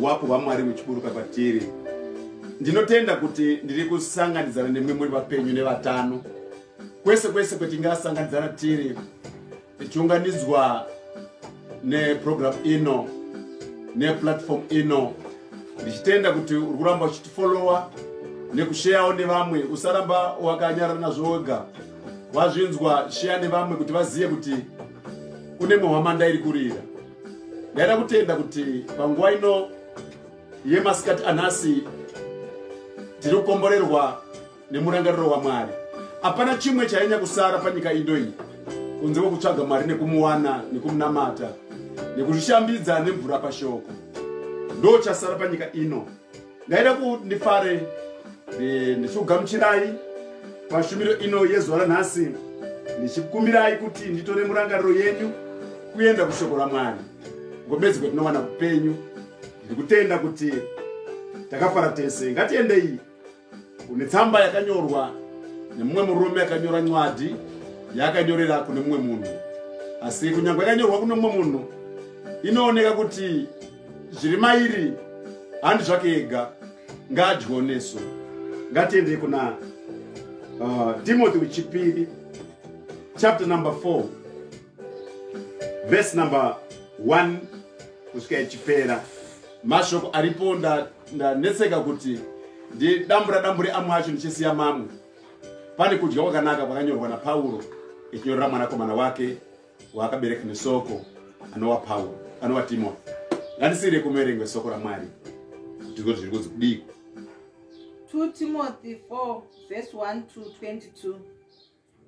Wapo hwaMwari muchiburuka kwatiri. Ndinotenda kuti ndiri kusanganidzana nemwe muri vapenyu nevatano kwese kwese kwetingasanganidzana tiri tichiunganidzwa neprogramu ino neplatform ino ndichitenda kuti uri kuramba uchitifolowa nekusheyawo nevamwe usaramba wakanyarara nazvo wega wazvinzwa sheya nevamwe kuti vazive kuti kune mwe hwamanda iri kurira ndaida kutenda kuti panguva ino yemasikati anhasi tiri kukomborerwa nemurangariro wamwari hapana chimwe chainya kusara panyika indo iyi kunze kwekutsvaga mwari nekumuwana nekumunamata nekuzvishambidza nemvura pashoko ndo chasara panyika ino ndaida kuti ndifare ndichikugamuchirai pashumiro ino yezuva ranhasi ndichikumbirai kuti nditore murangariro yenyu kuenda kushoko ramwari ngomedzi kwetinowana kupenyu ndiri kutenda kuti takafara tese ngatiendei kune tsamba yakanyorwa nemumwe murume yakanyora nywadi yaakanyorera kune mumwe munhu asi kunyange yakanyorwa kune mumwe munhu inooneka kuti zviri mairi handi zvake ega ngaadyiwo nesu ngatiendei kuna uh, timothy wechipiri chapter number 4 vhesi number 1 kusvika ichipera mashoko aripo ndanetseka nda, kuti ndidambura dambure amwe acho ndichisiya mamwe pane kudya kwakanaka kwakanyorwa napauro echinyorera mwanakomana wake waakabereka nesoko anova pauro anova timothy ngandisiire kumerengwe soko ramwari ndiko zviri kunzi kudii 2 timothy 4 vhesi 1 to 22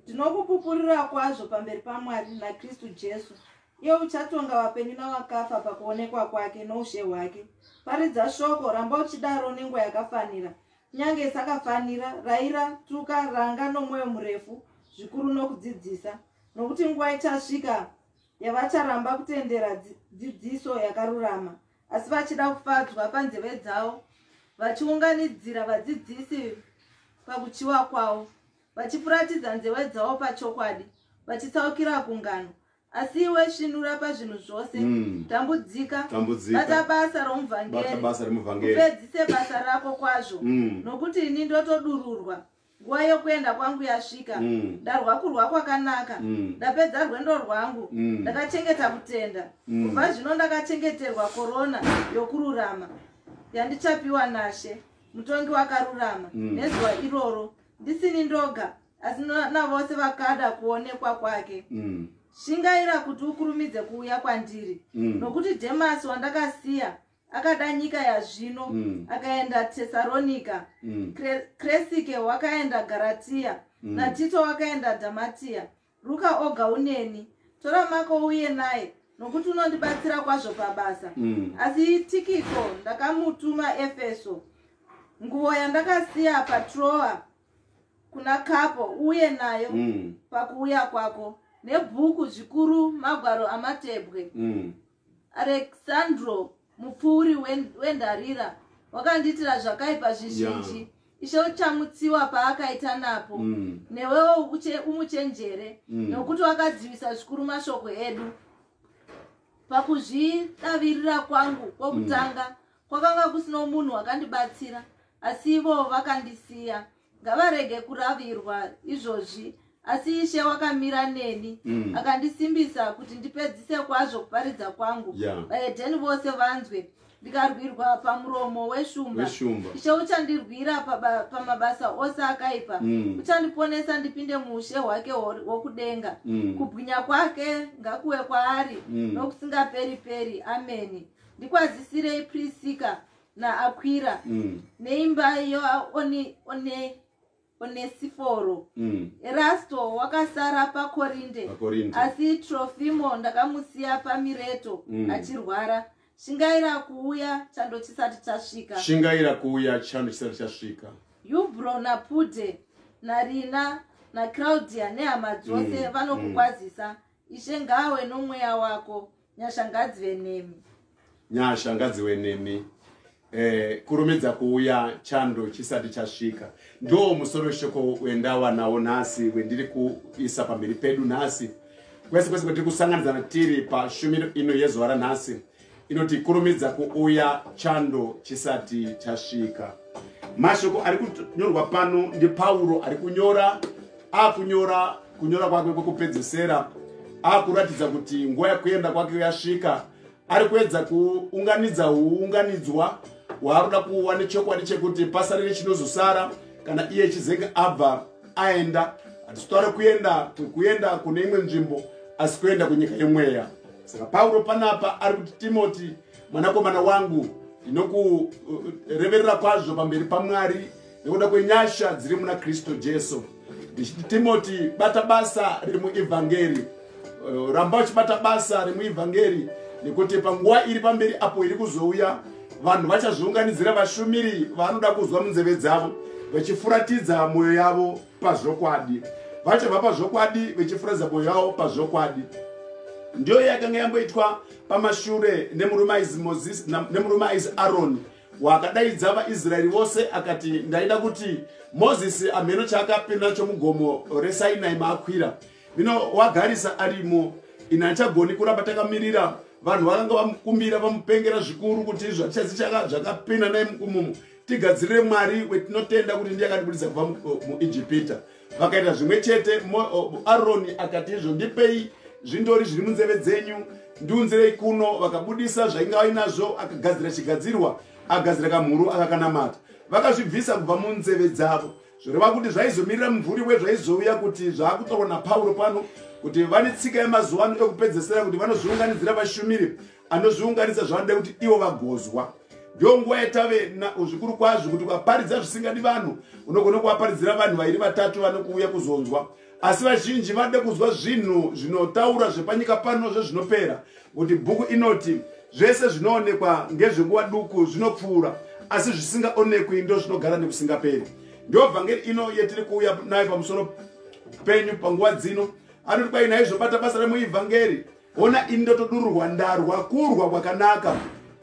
ndinokupupurira kwazvo pamberi pamwari nakristu jesu iye uchatonga vapenyu navakafa pakuonekwa kwake noushe hwake paridza shoko ramba uchidaro nenguva yakafanira kunyange isakafanira raira tuka ranga nomwoyo murefu zvikuru nokudzidzisa nokuti nguva ichasvika yavacharamba kutendera dzidziso yakarurama asi vachida kufadzwa panzeve dzavo vachiunganidzira vadzidzisi pakuchiwa kwavo vachifuratidza nzeve dzavo pachokwadi vachitsaukira kungano asi iwe svinura pazvinhu zvose mm. tambudzika bata basa romuvhangeri upedzise basa rako kwazvo mm. nokuti ini ndotodururwa nguva yokuenda kwangu yasvika mm. ndarwa kurwa kwakanaka mm. ndapedza rwendo rwangu mm. ndakachengeta kutenda mm. kubva mm. zvino ndakachengeterwa korona yokururama yandichapiwa nashe mutongi wakarurama mm. nezuva iroro ndisini ndoga asi navose vakada kuonekwa kwake mm. shingaira kuti ukurumidze kuuya kwandiri mm. nokuti dhemasi wandakasiya akada nyika yazvino mm. akaenda tesaronika mm. kresike wakaenda garatiya mm. natito wakaenda dhamatiya ruka oga uneni tora mako uye naye nokuti unondibatsira kwazvo pabasa mm. asi tikiko ndakamutuma efeso nguvo yandakasiya patroa kuna kapo uye nayo mm. pakuuya kwako nebhuku zvikuru magwaro amatebwe mm. alexandro mupfuuri wendarira wakandiitira zvakaipa zvizhinji yeah. ishe uchamutsiwa paakaita napo mm. newewo umuchenjere mm. nokuti wakadzivisa zvikuru mashoko edu pakuzvidavirira kwangu kwokutanga mm. kwakanga kusino munhu wakandibatsira asi ivo vakandisiya ngavarege kuravirwa izvozvi asi ishe wakamira neni mm. akandisimbisa kuti ndipedzise kwazvo kuparidza kwangu vaedheni yeah. vose vanzwe ndikarwirwa pamuromo weshumba ishe uchandirwira pamabasa pa ose akaipa mm. uchandiponesa ndipinde muushe hwake wokudenga mm. kubwinya kwake ngakuwe kwaari mm. nokusingaperi peri ameni ndikwazisirei prisika naakwira mm. neimba yoonesiforo mm. erasto wakasara pakorinde asi trofimo ndakamusiya pamireto mm. achirwara shingaira kuuya chando chisati chasvika shingaira kuuya chando chisati chasvika yubro napude narina nacraudia nehama dzose mm. vanokukwazisa mm. ishe ngawe nomweya wako Nyasha ngadzive nemi. Nyasha ngadzive nemi. Eh, kurumidza kuuya chando chisati chasvika ndo musoro shoko wendawanawo nhasi wendiri kuisa pamberi pedu nhasi kwese kwese kwatiri kusanganidzana tiri pashumiro ino yezuva ranhasi inoti kurumidza kuuya chando chisati chasvika mashoko ari kunyorwa pano ndipauro ari kunyora akunyora kunyora kwake kwekupedzesera akuratidza kuti nguva yekuenda kwake yasvika ari kuedza kuunganidza uunganidzwa hwaaroda kuwa nechokwadi chekuti pasarire chinozosara kana iye chizenge abva aenda hatitotaure kuenda kuenda kune imwe nzvimbo asi kuenda kunyika yemweya saka pauro panapa ari kuti timoti mwanakomana wangu ndinokureverera kwazvo pamberi pamwari nekuda kwenyasha dziri muna kristu jesu ndichiti timoti bata basa riri muevhangeri eh, ramba uchibata basa remuevhangeri nekuti panguva iri pamberi apo iri kuzouya vanhu vachazviunganidzira vashumiri vanoda kuzwa munzeve dzavo vachifuratidza mwoyo yavo pazvokwadi vachabva pazvokwadi vachifuratidza mwoyo yavo pazvokwadi ndiyo yakanga yamboitwa pamashure nemurume aizi mozisi nemurume aizi aroni wakadaidza vaisraeri vose akati ndaida kuti mozisi amheno chaakapinda nacho mugomo resainai maakwira vino wagarisa arimo ini hachagoni kuramba takamirira vanhu vakanga vamukumbira vamupengera zvikuru kuti izvo hatichazi zvakapinda naye mukumumu tigadzirire mwari wetinotenda kuti ndiye akatibudisa kubva muijipita mu, vakaita zvimwe chete aroni akati izvo ndipei zvindori zviri munzeve dzenyu ndiunzirei kuno vakabudisa zvainge vainazvo akagadzira chigadzirwa agadzira kamhuru akakanamata vakazvibvisa kubva munzeve dzavo zvoreva kuti zvaizomirira mumvuri wezvaizouya kuti zvaakutorwa napauro pano kuti vane tsika yemazuva ano ekupedzesera kuti vanozviunganidzira vashumiri anozviunganisa zvavanoda kuti ivo vagozwa ndiyo nguva yatave zvikuru kwazvo kuti ukaparidza zvisingadi vanhu unogona kuvaparidzira vanhu vairi vatatu vanokuuya kuzonzwa asi vazhinji vanoda kunzwa zvinhu zvinotaura zvepanyika pano zvezvinopera kuti bhuku inoti zvese zvinoonekwa ngezvenguva duku zvinopfuura asi zvisingaonekwi ndo zvinogara nekusingaperi ndiyo vhangeri ino yetiri kuuya nayo pamusoro penyu panguva dzino anoti kwai naizvo bata basa remuivhangeri Hona ini ndotodururwa ndarwa kurwa kwakanaka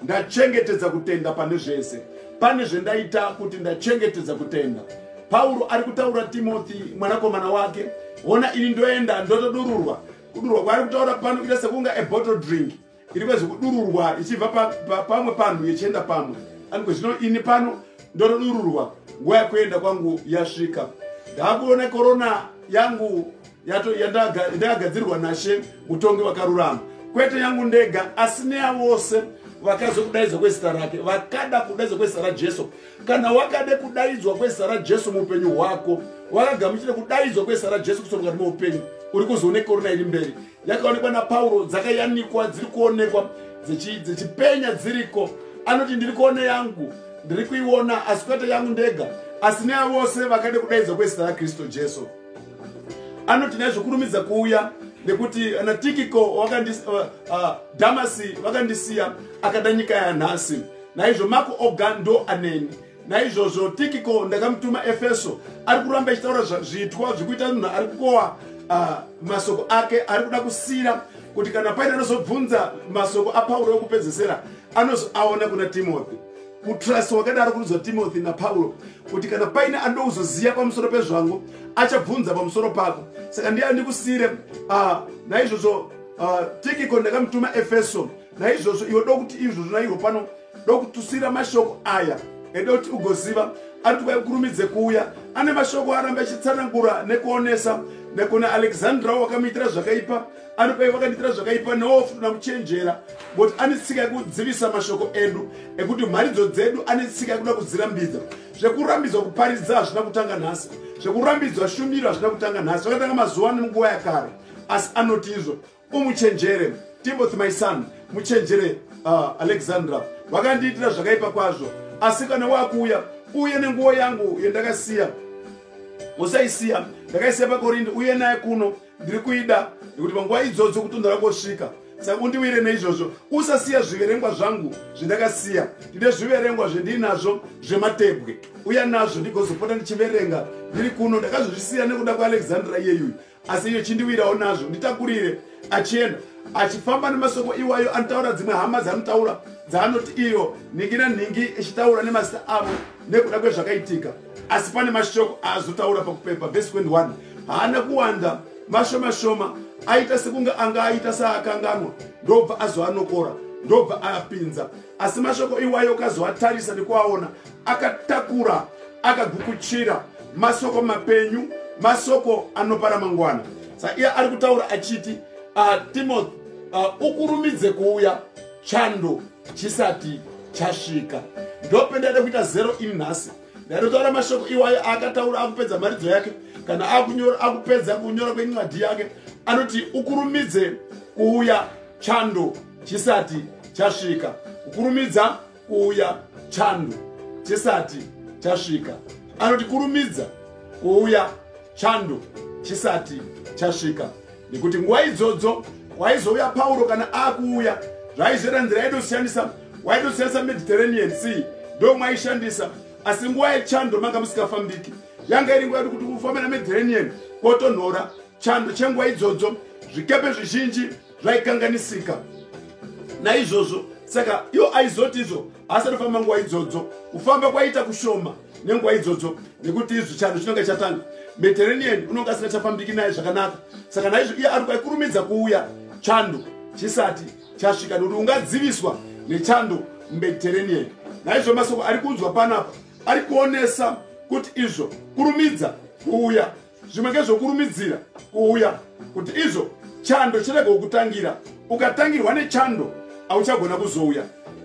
ndachengetedza kutenda pane zvese pane zvendaita kuti ndachengetedza kutenda pauro ari kutaura timothy mwanakomana wake hona ini ndoenda ndotodururwa kudurwa kwaari kutaura pano kuita sekunge ebottle drink iri kwezve kudururwa ichibva pamwe panhu yechienda pamwe aniko zvino ini pano ndotodururwa nguva yekuenda kwangu yasvika ndaakuona korona yangu ndakagadzirirwa nashe mutongi wakarurama kwete yangu ndega asi neya vose vakazokudaidzwa kwezita rake vakada kudaidzwa kwezita rajesu kana wakade kudaidzwa kwezita rajesu muupenyu hwako wakagamuchire kudaidzwa kwezita rajesu kusomukati meupenyu uri kuzoone korona iri mberi yakaonekwa napauro dzakayanikwa dziri kuonekwa dzechipenya dziriko anoti ndiri kuone yangu ndiri kuiona asi kwete yangu ndega asi neya vose vakade kudaidzwa kwezita rakristu jesu anoti nyaya zvokurumidza kuuya nekuti na tikiko uh, uh, damasi vakandisiya akada nyika yanhasi naizvo mako oga ndo aneni naizvozvo tikiko ndakamutuma efeso ari kuramba ichitaura zviitwa zvekuita munhu ari kukowa uh, masoko ake ari kuda kusira kuti kana paine anozobvunza masoko apauro okupedzesera anozoaona kuna timothy kutrust wakadaro kurudzwa timothy napaulo kuti kana paine anouzoziva pamusoro pezvangu achabvunza pamusoro pako saka ndiye andikusire ah, naizvozvo ah, tikiko ndakamutuma efeso naizvozvo iwe dokuti izvozvo naivo pano dokutusira mashoko aya ede kuti ugoziva ari kuti kwaikurumidze kuuya ane mashoko arambe achitsanangura nekuonesa nekuna alexandra wakamuitira zvakaipa anopei vakandiitira zvakaipa newo futi na kuchenjera but ane tsika yekudzivisa mashoko edu ekuti mharidzo dzedu ane tsika yekuda kudzirambidza zvekurambidzwa kuparidza hazvina kutanga nhasi zvekurambidzwa shumiro hazvina kutanga nhasi zvakatanga mazuva ano nguva yakare asi anoti izvo umuchenjere timothy my son muchenjere uh, alexandra vakandiitira zvakaipa kwazvo asi kana wakuuya uye nenguva yangu yendakasiya usaisiya ndakaisiya pakorindi uye naye kuno ndiri kuida nekuti panguva idzodzo kutondora kosvika saka undiwire neizvozvo usasiya zviverengwa zvangu zvindakasiya ndine zviverengwa zvendiinazvo zvematebwe uya nazvo ndigozopota ndichiverenga ndiri kuno ndakazozvisiya nekuda kualexandra iyeyuyu asi iyo chindiwirawo nazvo nditakurire achienda achifamba nemasoko iwayo anotaura dzimwe hama dzanotaura dzaanoti iyo nhingi nanhingi ichitaura nemazita avo nekuda kwezvakaitika asi pane mashoko aazotaura pakupepa vhesi 21 haana kuwanda mashoma shoma aita sekunge anga aita saakanganwa ndobva azoanokora ndobva aapinza asi mashoko iwayo ukazoatarisa nekuaona akatakura akagukuchira masoko mapenyu masoko anopa ramangwana sa iye ari kutaura achiti uh, timothy uh, ukurumidze kuuya chando chisati chasvika ndopendaida kuita zero in nhasi ndaitotaura mashoko iwayo aakataura akupedza mharidzo yake kana akunyora akupedza kunyora kwencwadi yake anoti ukurumidze kuuya chando chisati chasvika ukurumidza kuuya chando chisati chasvika anoti kurumidza kuuya chando chisati chasvika nekuti nguva idzodzo kwaizouya pauro kana akuuya zvaizvera nzira yaitosiyanisa waitosiyanisa mediterranean sea ndo mwaishandisa asi nguva yechando manga musikafambiki yanga iri nguva yati kuti kufamba nemediterranean kwotonhora chando chenguva idzodzo zvikepe zvizhinji zvaikanganisika naizvozvo saka iwo aizoti izvo asati kufamba nguva idzodzo kufamba kwaita kushoma nenguva idzodzo nekuti izvi chando chinonge chatanga mediterranean unonge asina chafambiki naye zvakanaka saka naizvo iye ari kwaikurumidza kuuya chando chisati chasvika nekuti ungadziviswa nechando mumediterranean naizvo masoko ari kunzwa panapa ari kuonesa kuti izvo kurumidza kuuya zvimwe ngezvokurumidzira kuuya kuti izvo chando chirega kukutangira ukatangirwa nechando auchagona kuzouya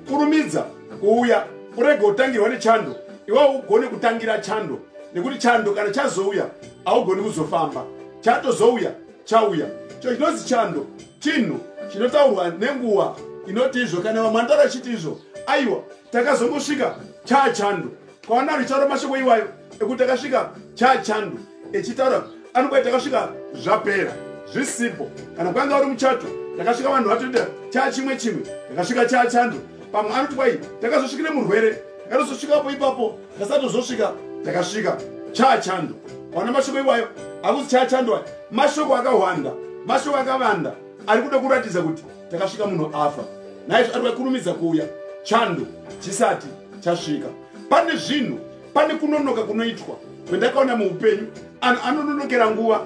kurumidza kuuya urege kutangirwa nechando iwawo ugone kutangira chando nekuti chando kana chazouya haugoni kuzofamba chatozouya chauya cho chinonzi chando chinhu chinotaurwa nenguva inoti izvo kana vamwe vanotaura chiti izvo aiwa takazongosvika chaachando kwaona richaro mashoko iwayo ekuti akasvika chachandu echitaura anokuva takasvika zvapera zvisipo kana kwanga uri muchato takasvika vanhu vatoita chaa chimwe chimwe takasvika chaa chando pamwe anoti kwai takazosvikire murwere takatozosvikapo ipapo takasatozosvika takasvika chaa chando wana mashoko iwayo akuzi chaa chando aya mashoko akahwanda mashoko akavanda ari kuda kuratidza kuti takasvika munhu afa naizvo ari kurumidza kuuya chando chisati chasvika pane zvinhu pane kunonoka kunoitwa kwendakaona muupenyu anhu anononokera nguva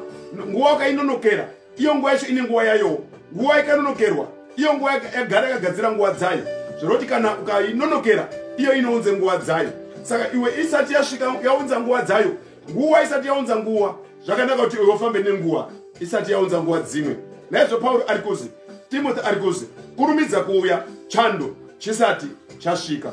nguva wakainonokera iyo nguva yacho ine nguva yayowo nguva ikanonokerwa iyo nguva yagara yakagadzira nguva dzayo zvoroti kana ukainonokera iyo inounze nguva dzayo saka iwe isati yasvika yaunza nguva dzayo nguva isati yaunza nguva zvakanaka kuti iwe ufambe nenguva isati yaunza nguva dzimwe naizvo pauro ari kuzi timothy ari kuzi kurumidza kuuya chando chisati chasvika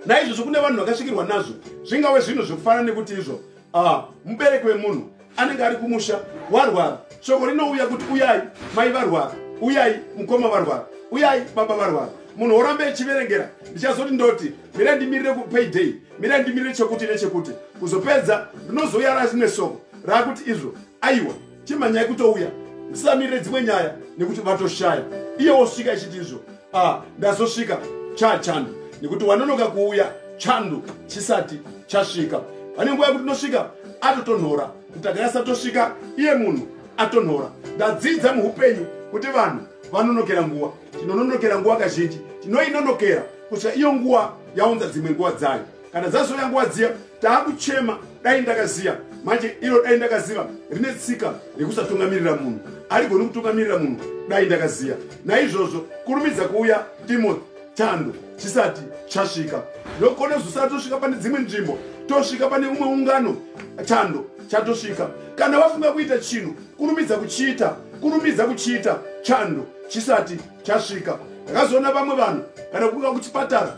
naizvozvo kune vanhu vakasvikirwa nazvo zvingave zvinhu zvekufana nekuti izvo ah, mubereki wemunhu anenge ari kumusha warwara shoko rinouya kuti uyai mai varwara uyai mukoma varwara uyai baba varwara munhu worambe echiverengera ndichazoti ndoti mira ndimirire kupayday mira ndimirire chekuti nechekuti kuzopedza rinozouya razvine soko raakuti izvo aiwa chimhanyai kutouya ndisamirire dzimwe nyaya nekuti vatoshaya iye wosvika ichiti izvo ah, ndazosvika cha chandu nekuti wanonoka kuuya chandu chisati chasvika vane nguva yekuti nosvika atotonhora kuti akanyasa tosvika iye munhu atonhora ndadzidza muupenyu kuti vanhu vanonokera nguva tinononokera nguva kazhinji tinoinonokera kusvika iyo nguva yaunza dzimwe nguva dzayo kana dzazouya nguva dziya taakuchema dai ndakaziya manje iro dai ndakaziva rine tsika rekusatungamirira munhu arigoni kutungamirira munhu dai ndakaziya naizvozvo kurumidza kuuya timothy chando chisati chasvika nokone zosara tosvika pane dzimwe nzvimbo tosvika pane umwe ungano chando chatosvika kana wafunga kuita chinhu kurumidza kuchiita kurumidza kuchiita chando chisati chasvika ndakazoona vamwe vanhu kana kuuya kuchipatara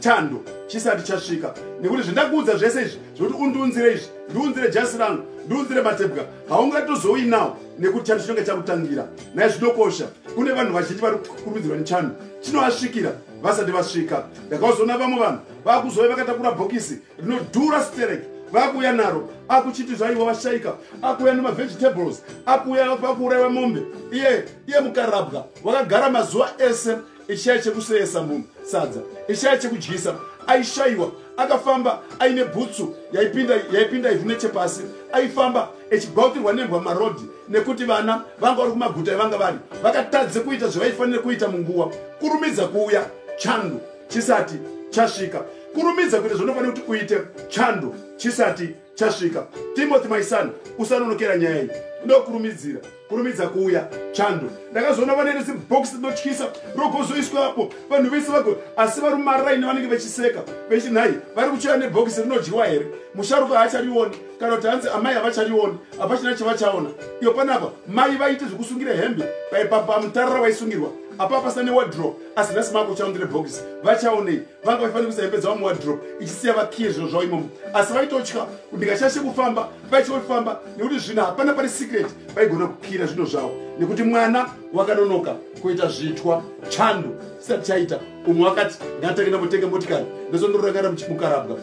chando chisati chasvika nekuti zvendakuudza zvese izvi zvekuti undiunzire izvi ndiunzire jasi rangu ndiunzire matebwa haungatozouyi nawo nekuti chando chinenge chakutangira naye zvinokosha kune vanhu vazhinji vari kukurumidzirwa nechando chinovasvikira vasati vasvika ndakazoona vamwe vanhu vakuzouya vakatakura bhokisi rinodhura stereki vakuuya naro akuchiti zvaivo vashaika akuuya nemavegetables akuuya vakuuraiwa mombe iye iye mukarabwa wakagara mazuva ese ishaya chekuseyesa munhu sadza ishaya chekudyisa aishayiwa akafamba aine bhutsu yaipinda yaipinda ivhu nechepasi aifamba echibautirwa nembwa marodhi nekuti vana vanga vari kumaguta ivanga vari vakatadze kuita zvavaifanire kuita munguva kurumidza kuuya chando chisati chasvika kurumidza kuita zvaunofanira kuti uite chando chisati chasvika timothy my son usanonokera nyaya iyi ndokurumidzira kurumidza kuuya chando ndakazoona vane rezibox rinotyisa rogozoiswa apo vanhu vese vago asi vari mumaraini vanenge vechiseka vechi nhai vari kuchera nebhokisi rinodyiwa here musharuka haacharioni kana kuti hanzi amai havacharioni hapachina chavachaona iyo panapa mai vaite zvekusungira hembe paipapa mutarara vaisungirwa apapasa newadro asi nhasi makuchaundire bhokisi vachaonei vanga vaifanira kuisa hembe dzavo muwadrop ichisiya vakiye zviro zvavo imomo asi vaitotya ndikashashe kufamba vaitya kufamba nekuti zvino hapana pari secret vaigona kukira zvino zvavo nekuti mwana wakanonoka kuita zvitwa chando chisati chaita umwe wakati ngatange ndambotenga motikari ndoso ndorangarira mukarabwa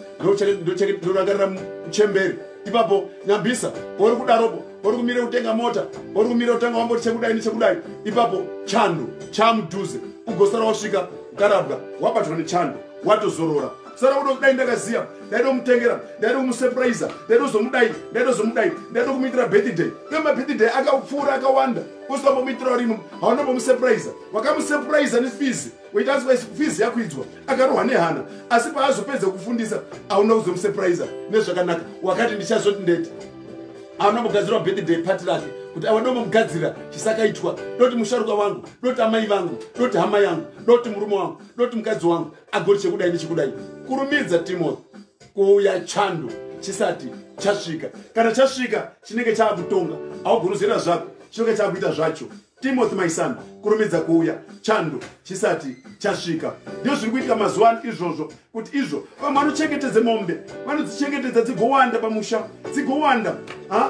ndorangarira muchemberi ipapo nyambisa kwauri kudaropo ori kumire kutenga mota ori kumire kutanga wamboti chekudai nechekudai ipapo chando chamudhuze ugosara wasvika ukarabwa wabatwa nechando watozorora sara kuda kudai ndakaziva ndaida kumutengera ndaida kumusepuraiza ndaida kuzomudai ndaida kuzomudai ndaida kumuitira birthday iyo mabirthday akapfuura akawanda usikambomuitirawo rino haunambomusepuraiza wakamusepuraiza nefees waita asi kwaisi fizi yakwidzwa akarohwa nehana asi paazopedza kufundisa auna kuzomusurprise nezvakanaka wakati ndichazoti ndeti auna kugadzirwa birthday party rake kuti awa ndomugadzira chisakaitwa doti musharuka wangu doti amai vangu doti hama yangu doti murume wangu doti mukadzi wangu agoti chekudai nechekudai kurumidza timothy kuuya chando chisati chasvika kana chasvika chinenge chaakutonga augoni zera zvako chinenge chaakuita zvacho Timothy my son kurumidza kuuya chando chisati chasvika ndizvo zviri kuitika mazuva ano izvozvo kuti izvo vamwe vanochengetedza mombe vanodzichengetedza dzigowanda pamusha dzigowanda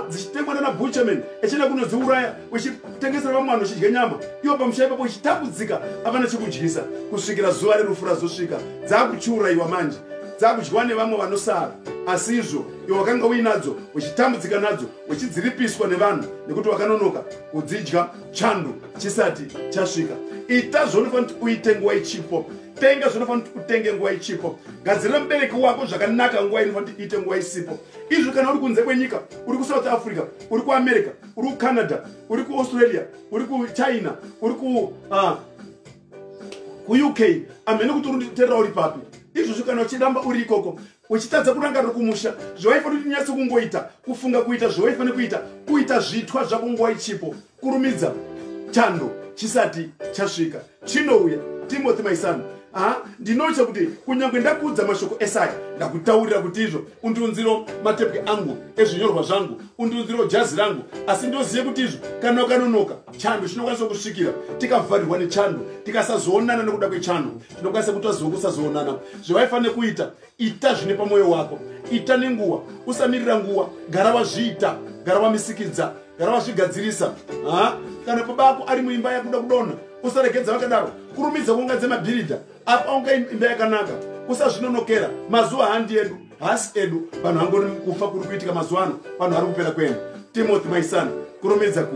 dzichitengwa nana buchaman achienda kunodziuraya uchitengesera vamwe vanhu uchidya nyama iwo pamusha ipapo uchitambudzika avana chikudyisa kusvikira zuva rerufu razosvika dzakuchiurayiwa manje dzakudyiwa nevamwe vanosara asi izvo iwe wakanga uinadzo uchitambudzika nadzo uchidziripiswa nevanhu nekuti wakanonoka kudzidya chando chisati chasvika ita zvaunofanira kuti uite nguva ichipo tenga zvinofanira kuti utenge nguva ichipo gadzirira mubereki wako zvakanaka nguva inofanira kuti iite nguva isipo izvi kana uri kunze kwenyika uri kusouth africa uri kuamerica uri kucanada uri kuaustralia uri kuchina uri kuuk ah, amhene kuti uriterera uri papi izvozvo kana uchiramba uri ikoko uchitadza kurangarira kumusha zvawaifanira kuti nyatso kungoita kufunga kuita zvawaifanira kuita kuita zvitwa zvako nguva ichipo kurumidza chando chisati chasvika chinouya timothy my son ha ndinotya kuti kunyange ndakuudza mashoko esaya ndakutaurira kuti izvo undiunziro matepwe angu ezvinyorwa zvangu undiunziro jazi rangu asi ndozive kuti izvo kana ukanonoka chando chinokwanisa kusvikira tikavharirwa nechando tikasazoonana nekuda kwechando tinokwanisa kuti waziva kusazoonana zvevaifanira kuita ita zvine pamwoyo wako ita nenguva usamirira nguva gara wazviita gara wamisikidza gara wazvigadzirisa kana baba ako ari muimba yakuda kudonha usaregedza vakadaro kurumidza kunga dzemabhiridha apa unga imba yakanaka usazvinonokera mazuva handi edu hasi edu vanhu vangori kufa kuri kuitika mazuva ano vanhu vari kupera kwenu timothy maisana kurumidza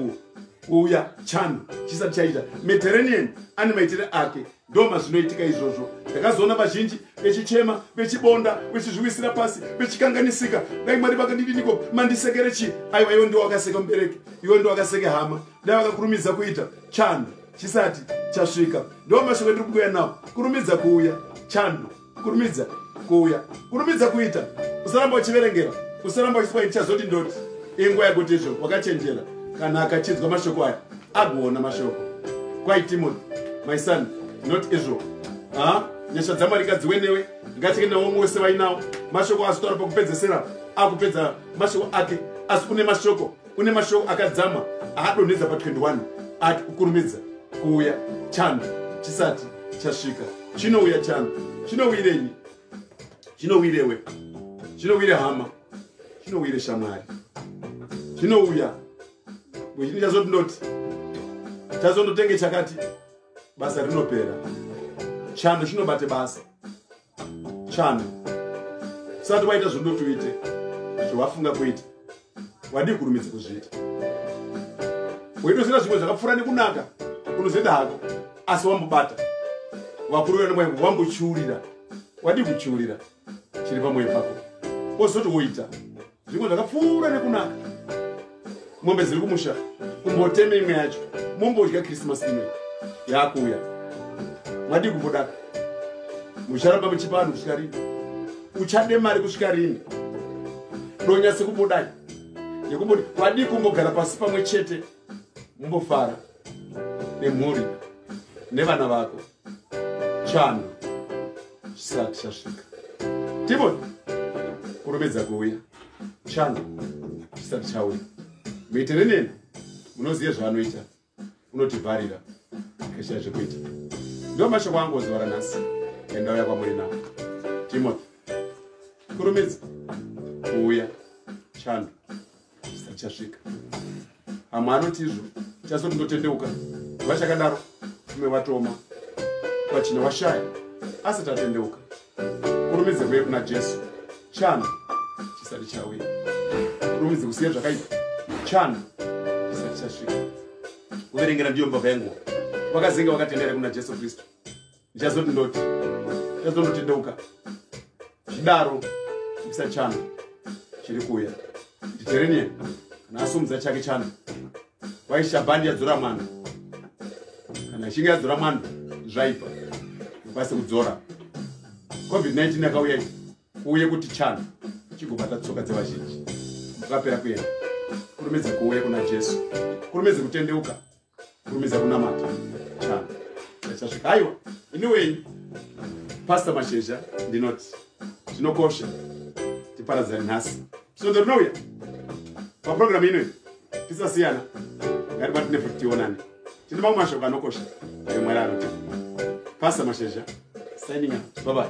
kuuya chanu chisati chaita mediterranean ane maitire ake ndoma zvinoitika izvozvo ndakazoona vazhinji vechichema vechibonda vechizviwisira pasi vechikanganisika dai mwari vakandidiniko mandisekere chii aiwa iwe ndiwo wakaseka mubereki iwe ndiwo wakaseke hama dai vakakurumidza kuita chando chisati chasvika ndiwo mashoko endiri kuuya nawo kurumidza kuuya chando kurumidza kuuya kurumidza kuita usaramba uchiverengera usaramba uchiswa ichazoti ndoti inguva yakuti izvo wakachenjera kana akachinzwa mashoko aya agoona mashoko kwai timothy my son not israel ha nyasha dzamwari ngadziwe newe ngatike nawo umwe wese vainawo mashoko azotaura pakupedzesera akupedza mashoko ake asi une mashoko une mashoko akadzama aadonhedza pa 21 ati kukurumidza kuuya chando chisati chasvika chinouya chando chinouyirenyi chinouyirewe chinouyire hama chinouyire shamwari chinouya wechini chazoti ndoti chazondotenge chakati basa rinopera chando chinobate basa chana usati waita zvodotuite zvawafunga kuita wadii kurumidza kuzviita weitoziva zvimwe zvakapfuura nekunaka unozoita hako asi wambobata vakuru vena mwayo wambochiurira wadii kuchiurira chiri pamwoyo pako wozoti woita zvimwe zvakapfuura nekunaka mombe dziri kumusha kumboteme imwe yacho mombodya krismas imwe yakuuya madii kumbodaka mucharamba muchipa vanhu kusvika rini uchade mari kusvika rini donya sekumbodai yekumboti vadii kumbogara pasi pamwe chete mumbofara nemhuri nevana vako chano chisati chasvika timoni kurumidza kuuya chano chisati chauya muitere neni munoziva zvaanoita unotivharira akashaya zvekuita ndo mashoko angu ozuva ranhasi endauya kwamuri navo timothy kurumidza kuuya chando zvichasvika amwe anoti izvo chazoti ndotendeuka vachakadaro ume vatoma vachine washaya asati atendeuka kurumidze kuye kuna jesu chana chisati chauya kurumidze kusiya zvakaipa chana chisati chasvika kuverengera ndiyo mbava yenguva vakazinga vakatendera kuna jesu kristu ndichazoti ndoti ndichazondotendeuka zvidaro misa chana chiri kuuya nditerenian kana asumudza chake chana kwaishabhandi yadzora mwana kana ichinge yadzora mwana zvaipa ikwanise kudzora covid-19 yakauya kuuye kuti chana chigobata tsoka dzevazhinji vakapera kuenda kurumidze kuuye kuna jesu kurumidze kutendeuka kurumidza kunamata chana chasvika aiwa ini wenyu pasta mashesha ndinoti zvinokosha tiparadzani nhasi svondo rinouya paprogramu inoyi tisasiyana ngatibatine futi tionane tine mamwe mashoko anokosha ayo mwari anoti pasta mashesha signing up babai